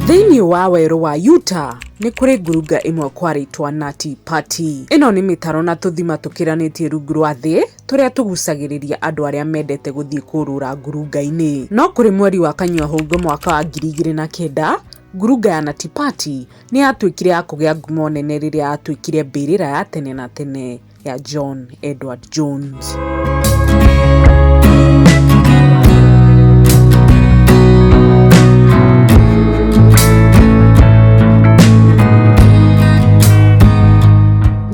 Thĩinĩ wa werũ wa Utah, nĩ kũrĩ ngurunga ĩmwe kwarĩtwa Nati Pati. Ĩno nĩ mĩtaro na tũthima tũkĩranĩtie rungu rwa thĩ tũrĩa tũgucagĩrĩria andũ arĩa mendete gũthiĩ kũrũra ngurunga-inĩ. No kũrĩ mweri wa Kanyua-hũngũ mwaka wa ngiri igĩrĩ na kenda, ngurunga ya Nati Pati nĩ yatuĩkire ya kũgĩa ngumo nene rĩrĩa yatuĩkire mbĩrĩra ya tene na tene. ya John Edward Jones.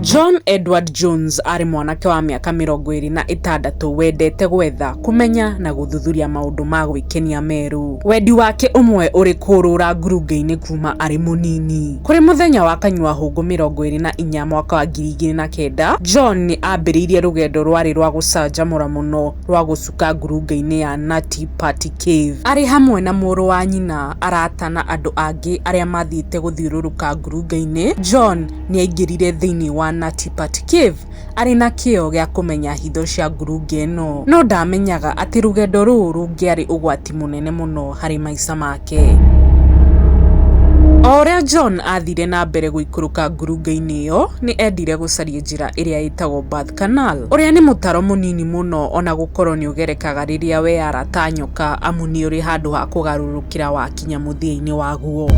John Edward Jones arĩ mwanake wa mĩaka mĩrongo ĩrĩ na ĩtandatũ wendete gwetha, kũmenya na gũthuthuria maũndũ ma gwĩkenia merũ. Wendi wake ũmwe ũrĩ kũũrũra ngurunga-inĩ kuuma arĩ mũnini. Kũrĩ mũthenya wa Kanyua-hũngũ mĩrongo ĩrĩ na inya mwaka wa ngiri igĩrĩ na kenda, John nĩ aambĩrĩirie rũgendo rwarĩ rwa gũcanjamũra mũno rwa gũcuka ngurunga-inĩ ya Nati Pati Cave. Arĩ hamwe na mũrũ wa nyina, arata, na andũ angĩ arĩa maathiĩte gũthiũrũrũka ngurunga-inĩ, John nĩ aaingĩrire thĩinĩ wa Nati Pati Cave. arĩ na kĩyo gĩa kũmenya hitho cia ngurunga ĩno. No ndaamenyaga atĩ rũgendo rũu rũngĩarĩ ũgwati mũnene mũno harĩ maica make. O ũrĩa John aathire na mbere gũikũrũka ngurunga-inĩ ĩyo, nĩ eendire gũcaria njĩra ĩrĩa ĩtagwo Birth Canal, ũrĩa nĩ mũtaro mũnini mũno o na gũkorũo nĩ ũgerekaga rĩrĩa weara ta nyoka amu nĩ ũrĩ handũ ha kũgarũrũkĩra wakinyaga. gũkinya mũthia-inĩ waguo.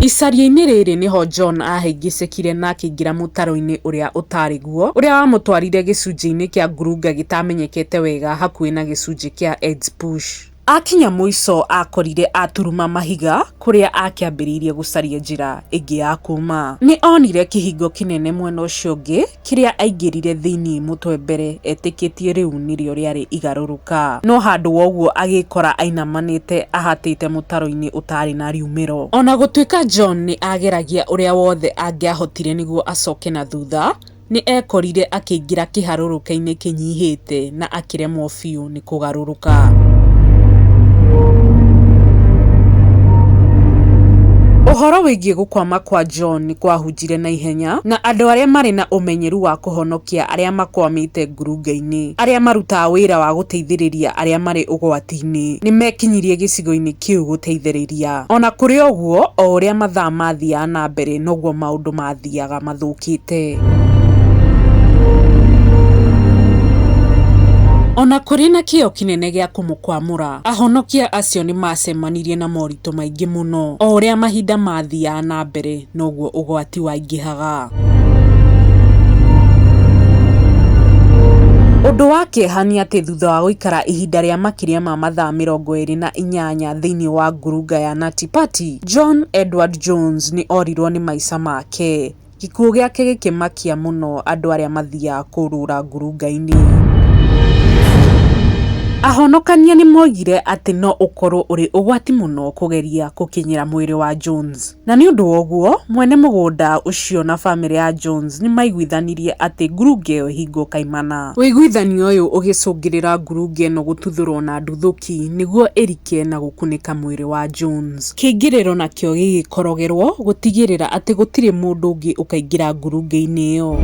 Icaria-inĩ rĩrĩ nĩho John aahĩngĩcĩkire na akĩingĩra mũtaro-inĩ ũrĩa ũtaarĩ guo, ũrĩa wamũtwarire gĩcunjĩ-inĩ kĩa ngurunga gĩtaamenyekete wega hakuhĩ na gĩcunjĩ kĩa Edspush. Aakinya mũico aakorire aturuma mahiga kũrĩa aakĩambĩrĩirie gũcaria njĩra ĩngĩ ya kuuma. Nĩ oonire kĩhingo kĩnene mwena ũcio ũngĩ Kĩrĩa aingĩrire thĩinĩ mũtwe mbere etĩkĩtie rĩu nĩrĩo rĩarĩ igarũrũka. No handũ wa ũguo agĩĩkora ainamanĩte ahatĩte mũtaro-inĩ ũtaarĩ na riumĩro. O na gũtuĩka John nĩ aageragia ũrĩa wothe angĩahotire nĩguo acoke na thutha, nĩ eekorire akĩingĩra kĩharũrũka-inĩ kĩnyihĩte na akĩremwo biũ nĩ kũhĩtũka. kũgarũrũka. Ũhoro wĩgiĩ gũkwama kwa John nĩ kwahunjire na ihenya, na andũ arĩa marĩ na ũmenyeru wa kũhonokia arĩa makwamĩte ngurunga-inĩ, arĩa marutaga wĩra wa gũteithĩrĩria arĩa marĩ ũgwati-inĩ, nĩ meekinyirie gĩcigo-inĩ kĩu gũteithĩrĩria. O na kũrĩ ũguo, o ũrĩa mathaa maathiaga na mbere, noguo maũndũ maathiaga. mathiaga mathũkĩte. O na kũrĩ na kĩyo kĩnene gĩa kũmũkwamũra, ahonokia acio nĩ maacemanirie na moritũ maingĩ mũno. O ũrĩa mahinda maathiaga na mbere, noguo ũgwati waingĩhaga. Ũndũ wa kĩeha nĩ atĩ thutha wa gũikara ihinda rĩa makĩria ma mathaa mĩrongo ĩrĩ na inyanya thĩinĩ wa ngurunga ya Nati Pati, John Edward Jones nĩ orirũo nĩ maica make. Gĩkuũ gĩake gĩkĩmakia mũno andũ arĩa mathiaga kũrũra ngurunga-inĩ. Ahonokania nĩ moigire atĩ no ũkorũo ũrĩ ũgwati mũno kũgeria gũkinyĩra mwĩrĩ wa Jones. Na nĩ ũndũ wa ũguo, mwene mũgũnda ũcio na famĩlĩ ya Jones nĩ maiguithanirie atĩ ngurunga ĩyo ĩhingwo kaimana. Ũiguithanio ũyũ ũgĩcũngĩrĩria ngurunga ĩno gũtuthũrũo na nduthũki nĩguo ĩrike na gũkunĩka mwĩrĩ wayo. mũciĩ wa Jones. Kĩingĩrĩro nakĩo gĩgĩkorogerwo gũtigĩrĩra atĩ gũtirĩ mũndũ ũngĩ ũkaingĩra ngurunga-inĩ ĩyo.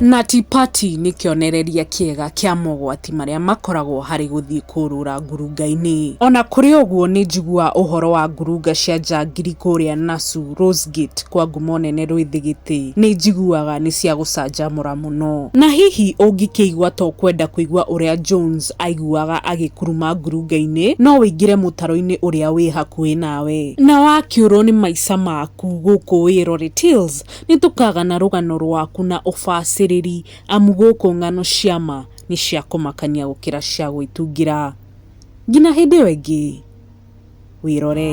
Nati Pati nĩ kĩonereria kĩega kĩa mogwati marĩa makoragwo harĩ gũthiĩ kũrũra ngurunga-inĩ. O na kũrĩ ũguo, nĩ njiguaga ũhoro wa ngurunga cia njangiri kũrĩa Nasu, Rose Gate, kwa ngumo nene Rwĩthigitĩ. Nĩ njiguaga nĩ cia gũcanjamũra mũno. Na hihi ũngĩkĩigua ta ũkwenda kũigua ũrĩa Jones aiguaga agĩkuruma ngurunga-inĩ, no ũingĩre mũtaro-inĩ ũrĩa wĩ hakuhĩ nawe. Na wakĩũrũo nĩ maica maku gũkũ wĩrore tills, nĩ tũkagana rũgano rwaku na ũbacĩrĩri amu gũkũ ng'ano cia ma nĩ cia kũmakania gũkĩra cia gwĩtungĩra. Ngina hĩndĩ ĩyo ĩngĩ, wĩrore.